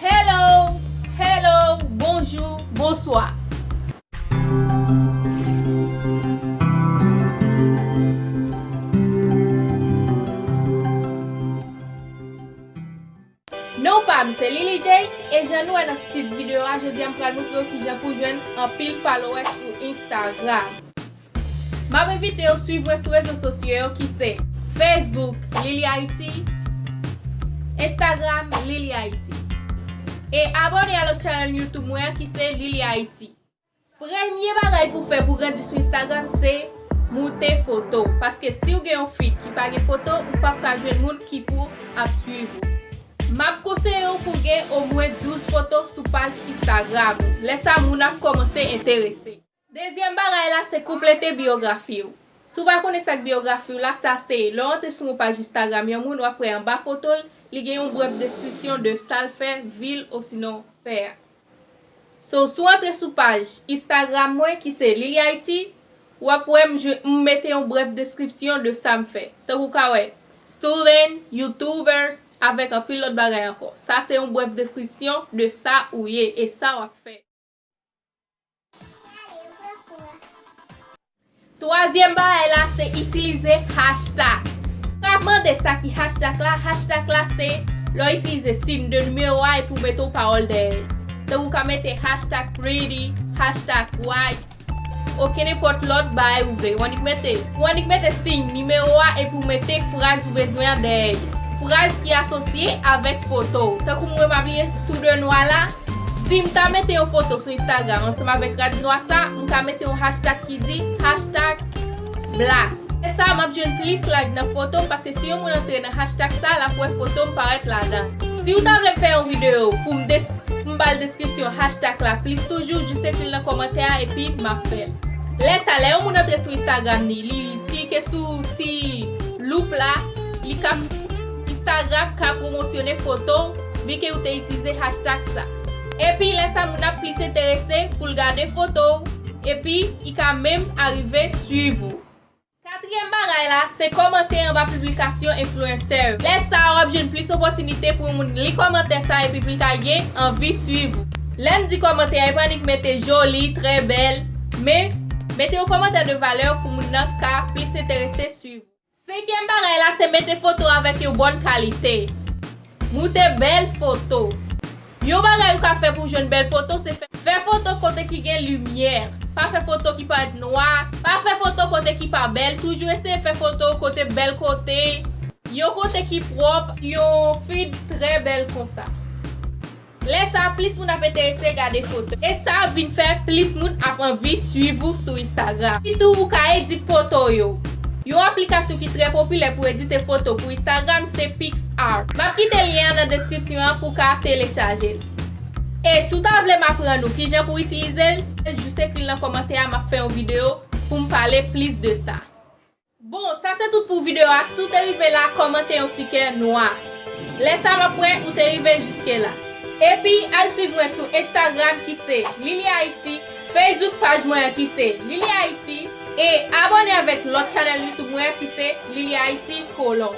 Hello Hello Bonjou Bonswa. Non pam se Lily Jay e jan nou wè nan tit video a jodia m pral moutre w kijan pou jwenn anpil followers sou Instagram. Map envitew swiv mwen sou rezo sosyo yo ki se Facebook Lili Haiti Instagram Lili Haiti e abone a lòt chanèl YouTube mwen an ki se Lili Haiti. Premye bagay pou fè pou grandi sou Instagram se moute foto paske siw gen yon feed ki pa gen foto ou pap ka jwenn moun ki pou ap swiv ou. Map konseyew pou gen omwen 12 foto sou paj Instagram ou lè sa moun ap kòmanse enterese. Dezyèm bagay la se konplete biyografi w. Si w pa konnen sa k biyografi w la, sa se, lè w antre sou yon paj Instagram yon moun, w ap wè anba foto l, li gen yon brèf deskripsyon de sa l fè, vi l, osinon pè a. So, si w antre sou paj Instagram mwen ki se Lilihaiti, w ap wè m jwe, m mete yon brèf deskripsyon de sa m fè. Tankou w ka wè, Student, Youtuber, avèk anpil lòt bagay ankò. Sa se yon brèf deskripsyon de sa ou ye e sa w ap fè. Twazyèm bagay la se itilize hashtag. Ou ka mande sa ki hashtag la? Hashtag la se lè w itilize siyn de nimewo a epi w mete yon pawòl dèyè l. Tankou ou ka mete hashtag pretty, hashtag white ok nenpòt lòt bagay ou vle. Ou annik mete Ou annik mete siyn nimewo a epi w mete fraz ou bezwen an dèyè li. Fraz ki asosye avèk foto w. Tankou mwen pa bliye tou de nwa la. Sim ta mete yon foto sou Instagram ansanm avèk rad nwa sa, m ka mete yon hashtag ki di, hashtag black. Lè sa map jwenn plis like nan fotom paske si yon moun antre nan hashtag sa lap wè fotom parèt ladan. Siw ta vlem fè yon video poum poum bal deskripsyon hashtag la plis toujou jis ekril nan kòmantè a epi map fèl. Lè sa lè yon moun antre sou Instagram ni li klike sou ti loup la li ka Instagram ka pwomosyone foto w bi ke ou te itilize hashtag sa. Epi lè sa moun ap plis enterese pou l gade foto w epi i ka menm arive swiv ou. Katriyèm bagay la se kòmante anba piblikasyon enfluencer yo. Lè sa w ap jwenn plis opòtinite pou yon moun li kòmantè sa epi pou l ka gen anvi swiv ou. Lè m di kòmante a e pa annik mete joli, trè bèl, men mete yon kòmantè de valè pou moun nan ka plis enterese swiv ou. Senkyèm bagay la se mete foto avèk yon bòn kalite. Moute bèl foto. Yon bagay ou ka fè pou w jwenn bèl foto se fè. Fè foto kote ki gen limyè. Pa fè foto ki parèt nwa. Pa fè foto kote ki pa bèl. Toujou eseye fè foto w kote bèl kote. Yon kote ki pwòp. Yon feed trè bèl konsa. Lè sa plis moun ap enterese gade foto. E sa ap vin fè plis moun ap anvi swiv ou sou Instagram. Sitou ou ka edit foto w yo. Yon aplikasyon ki trè popilè pou edite foto pou Instagram se PicsArt. Map kite lyen an nan deskripsyon an pou w ka telechaje l. E si w ta vle m aprann ou kijan pou w itilize l, jis ekri l nan kòmantè a map fè yon video pou m pale plis de sa. Bon sa se tout pou video a si w te rive la kòmante yon ti kè nwa lè sa map wè ou te rive jiske la epi al swiv mwen sou Instagram ki se Lily Haiti Facebook paj mwen an ki se Lily Haiti e abòne avèk lòt chanèl YouTube mwen an ki se Lily Haiti Colon.